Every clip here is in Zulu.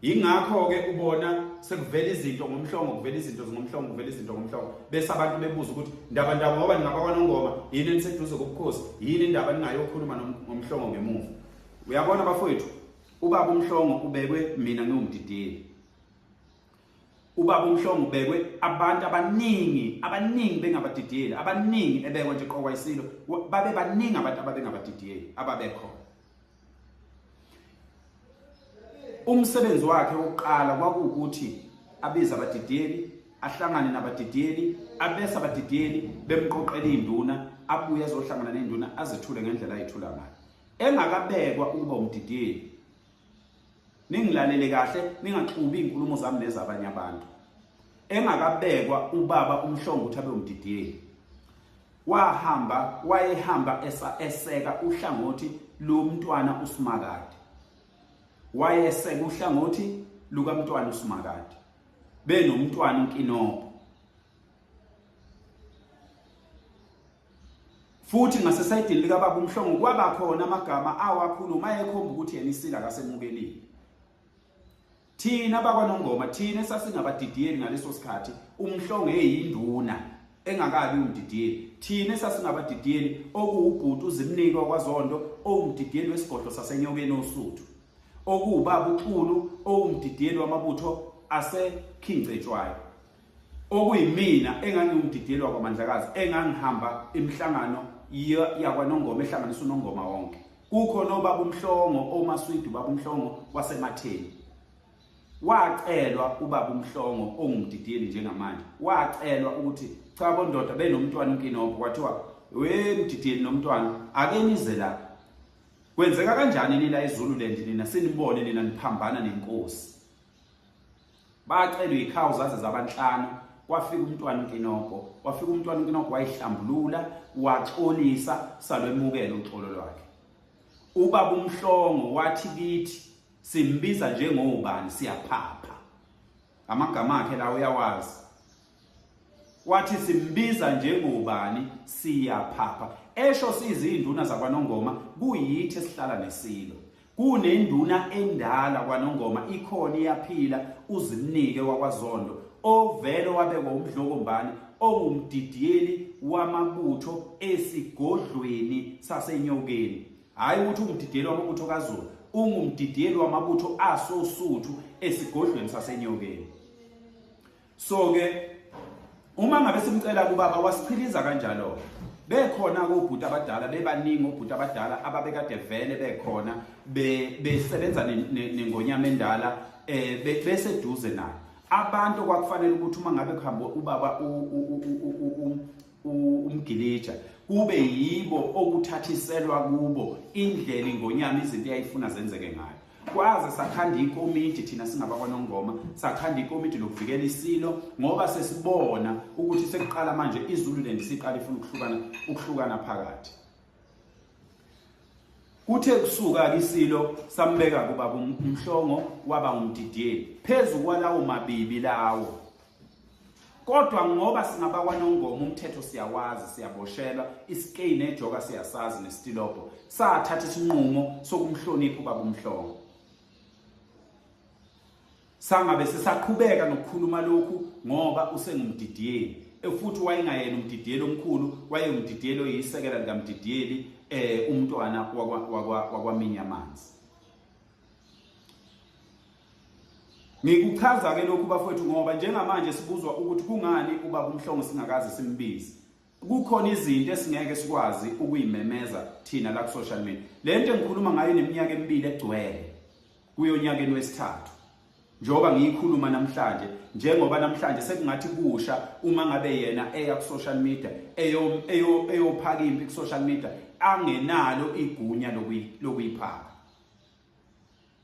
yingakho ke ubona sekuvela izinto ngomhlongo kuvela izinto zingomhlongo kuvela izinto ngomhlongo bese abantu bebuza ukuthi ndaba ndaba ngoba ningabakwanongoma yini eniseduze kobukhosi yini indaba ningayokhuluma ngomhlongo ngemuva uyabona bafowethu ubaba umhlongo ubekwe mina ngiwumdideli ubaba umhlongo ubekwe abantu abaningi abaningi bengabadideli abaningi ebekwe nje qokwayisilo babe baningi abantu ababengabadideli ababekhona umsebenzi wakhe wokuqala kwakuwukuthi abize abadidiyeli ahlangane nabadidiyeli abese abadidiyeli bemqoqela induna abuye azohlangana nenduna azithule ngendlela ayithula ngayo engakabekwa ukuba umdidiyeli Ningilalele kahle ningaxubi inkulumo zami nezabanye abantu. Engakabekwa ubaba umhlongo ukuthi abe umdidiyeli. Wahamba wayehamba eseka uhlangothi lomntwana uSimakade. Wayeseka uhlangothi lukamntwana uSimakade. Benomntwana uNkinoko. Futhi ngasesayidini likababa uMhlongo kwaba khona amagama awakhuluma ayekhomba ukuthi yena isila akasemukelile. Thina bakwaNongoma thina esasingabadidiyeli ngaleso sikhathi uMhlongo eyinduna engakabi umdidiyeli. Thina esasingabadidiyeli okuwubhuti uzimnike wakwaZondo owumdidiyeli wesigodlo saseNyokeni oSuthu. Okuwubaba uXulu owumdidiyeli wamabutho aseKhingcetshwayo. okuyimina engangiwumdidelwa kwaMandlakazi engangihamba imihlangano yakwaNongoma ehlanganisa uNongoma wonke kukho nobaba uMhlongo omaswidu baba uMhlongo wasematheni wacelwa ubaba uMhlongo ongumdideli njengamanje wacelwa ukuthi cha bondoda benomntwana uNkinobho kwathiwa we mdideli nomntwana ake nize la kwenzeka kanjani nila eZululand nina sinibone nina niphambana nenkosi bacelwe ikhawu zaze zabanhlanu kwafika umntwana uNkinoko wafika umntwana uNkinoko wayihlambulula waxolisa salwemukela uxolo lwakhe ubaba umhlongo wathi kithi simbiza njengobani siyaphapha amagama akhe la uyawazi wathi simbiza njengobani siyaphapha esho sizinduna zakwanongoma kuyithi esihlala nesilo kunenduna endala kwanongoma ikhona iyaphila uzimnike wakwazondo ovele wabekwa umdlokombani ongumdidiyeli wamabutho esigodlweni sasenyokeni hhayi ukuthi ungumdidiyeli wamabutho kazulu ungumdidiyeli wamabutho asosuthu esigodlweni sasenyokeni so ke uma ngabe simcela kubaba wasichiliza kanjalo bekhona kobhuti abadala bebaningi obhuti abadala ababekade vele bekhona besebenza nengonyama endala eh beseduze nayo abantu kwakufanele ukuthi uma ngabe kuhambe ubaba umgilija kube yibo okuthathiselwa kubo indlela ingonyama izinto eyayifuna zenzeke ngayo kwaze sakhanda ikomiti thina singabakwanongoma sakhanda ikomiti lokuvikela isilo ngoba sesibona ukuthi sekuqala manje izululand siqala ifuna ukuhlukana ukuhlukana phakathi Kuthe kusuka-ke isilo sambeka kubaba umhlongo waba ngumdidiyeli phezu kwalawo mabibi lawo kodwa ngoba singabakwanongoma umthetho siyawazi siyaboshelwa isikei nejoka siyasazi nesitilobo sathatha isinqumo sokumhlonipha ubaba umhlongo Sangabe sisaqhubeka nokukhuluma lokhu ngoba usengumdidiyeli e, futhi wayengayena umdidiyeli omkhulu wayengumdidiyeli oyisekela likamdidiyeli eh umntwana wakwaminya amanzi Ngikuchaza ke lokhu bafowethu ngoba njengamanje sibuzwa ukuthi kungani ubaba umhlongo singakaze simbize kukhona izinto esingeke sikwazi ukuyimemeza thina la ku-social media le nto engikhuluma ngayo neminyaka emibili egcwele kuyonyakeni wesithathu njengoba ngiyikhuluma namhlanje njengoba namhlanje sekungathi kusha uma ngabe yena eya ku-social media eyophaka impi ku-social media angenalo igunya lokuyiphaka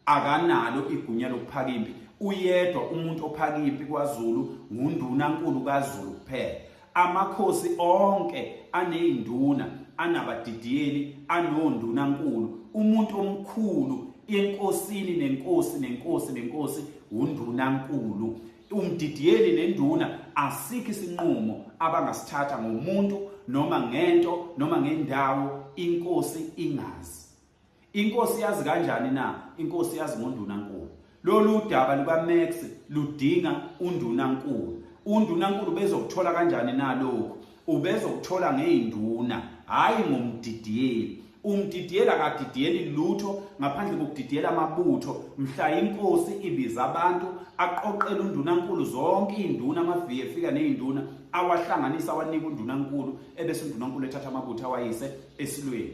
akanalo igunya lokuphaka impi uyedwa umuntu ophaka impi kwaZulu ngundunankulu kaZulu kuphela amakhosi onke anezinduna anabadidiyeli anondunankulu umuntu omkhulu enkosini nenkosi nenkosi nenkosi undunankulu umdidiyeli nenduna asikho isinqumo abangasithatha ngomuntu noma ngento noma ngendawo inkosi ingazi Inkosi yazi kanjani na? Inkosi yazi ngondunankulu. Lolu daba lukaMax ludinga undunankulu. Undunankulu bezokuthola kanjani na lokhu? Ubezokuthola ngeyinduna, hhayi ngomdidiyeli. Umdidiyeli akadidiyeli lutho ngaphandle kokudidiyela amabutho. Mhla inkosi ibiza abantu aqoqele undunankulu zonke iy'nduna amaviye efika ney'nduna awahlanganisa awanika undunankulu ebese undunankulu ethatha amabutho awayise esilweni.